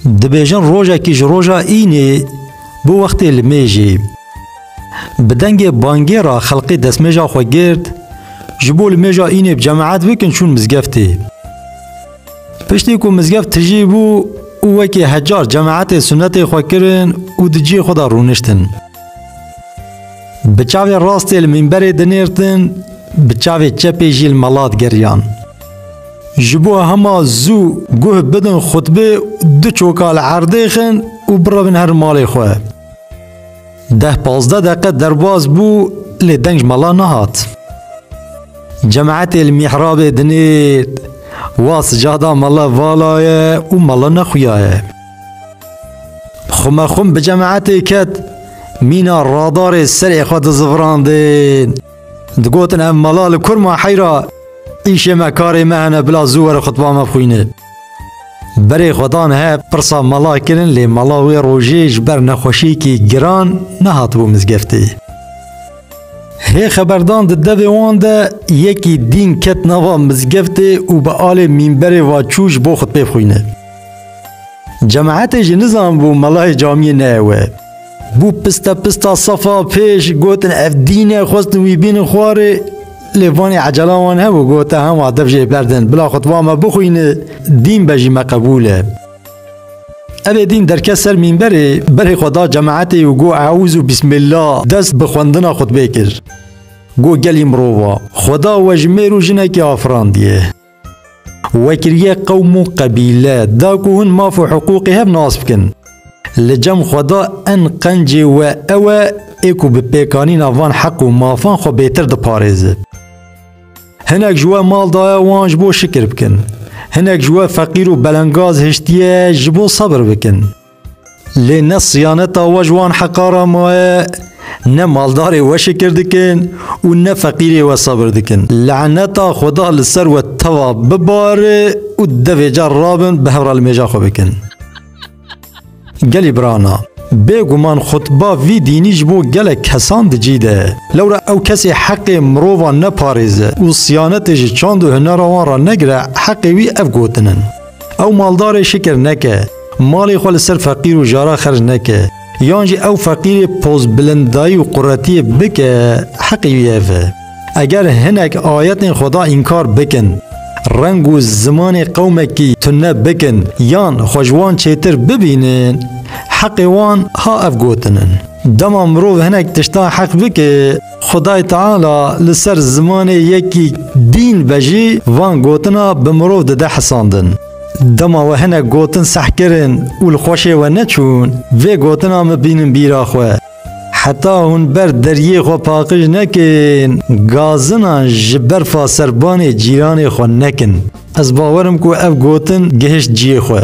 Dibêjin rojekî ji roja înê bo wextê li mêjê. Bi dengê bangê ra xelqê desmêja xwe girt, ji bo li mêja înê bi cemaet bikin çûn mizgeftê. Piştî ku mizgeft tijî bû û wekî hecar cemaetê sunetê xwe kirin û di cihê xwe de rûniştin. Bi çavê rastê li mînberê dinêrtin, bi çavê çepê jî li mala digeriyan. Ji bo hema zû guh bidin xutbê du çoka li erdê xin û birevin her malê xwe. Deh pazdeh deqe derbas bû lê deng ji mala nehat. Cemaetê li mîhrabê dinêr, wa sicada mala vala ye û mala nexuya ye. Xumaxum bi cemaetê ket mîna radarê serê xwe dizivrandin. Digotin em mala li kurma heyra îşê me karê me hene bila zû were xutba me xwîne. Berê xwedan he pirsa mala kirin lê mala wê rojê ji ber nexweşiyekî giran nehatibû mizgeftê. Hê xeberdan di devê wan de yekî dîn ket nava mizgeftê û bi alê mînberê va çû ji bo xutbê xwîne. Cemaetê jî nizanbû melayê camiyê ne ew e. Bû piste pista sefa pêş gotin ev dîn e xwestin wî bînin xwarê lê vanê ecela wan hebû gote hema dev jê berdin bila xutba me bixwîne dîn be jî me qebûl e. Evê dîn derket ser mînberê berê xwe da cemaetê û got eûz û bîsmîlla dest bi xwendina xutbê kir. Got gelî mirova xweda we ji mêr û jinekê afirandiye. Wekiriyê qewm û qebîle da ku hûn maf û hiqûqê hev nas bikin. Li cem xwe da en qencê we ew e ê ku bi pêkanîna van heq û mafan xwe bêtir diparêze. Hinek ji we mal daye wan ji bo şikir bikin. Hinek ji we feqîr û belengaz hiştiye ji bo sebir bikin. Lê ne siyaneta we ji wan heqa re maye, ne maldarê we şikir dikin û ne feqîrê we sebir dikin. Leneta Xweda li ser we teva bibare û devê car rabin bi hev re li mêja xwe bikin. Gelî birana, bêguman xutba vî dînî ji bo gelek kesan di cî de. Lewra ew kesê heqê mirovan neparêze û siyanetê ji çand û hunera wan re negire heqê wî ev gotin in. Ew maldarê şikir neke, malê xwe li ser feqîr û jara xerc neke, yan jî ew feqîrê pozbilindayî û quretiyê bike heqê wî ev e. Eger hinek ayetên Xweda înkar bikin, reng û zimanê qewmekî tune bikin yan xwe ji wan çêtir bibînin, heqê wan ha ev gotin in. Dema mirov hinek tiştan heq bike, Xwedayê Teala li ser zimanê yekî dîn ve jî van gotina bi mirov dide hisandin. Dema we hinek gotin seh kirin û li xweşê we neçûn, vê gotina me bînin bîra xwe. Heta hûn ber deriyê xwe paqij nekin, gazinan ji berfa serbanê cîranê xwe nekin. Ez bawer im ku ev gotin gihişt ciyê xwe.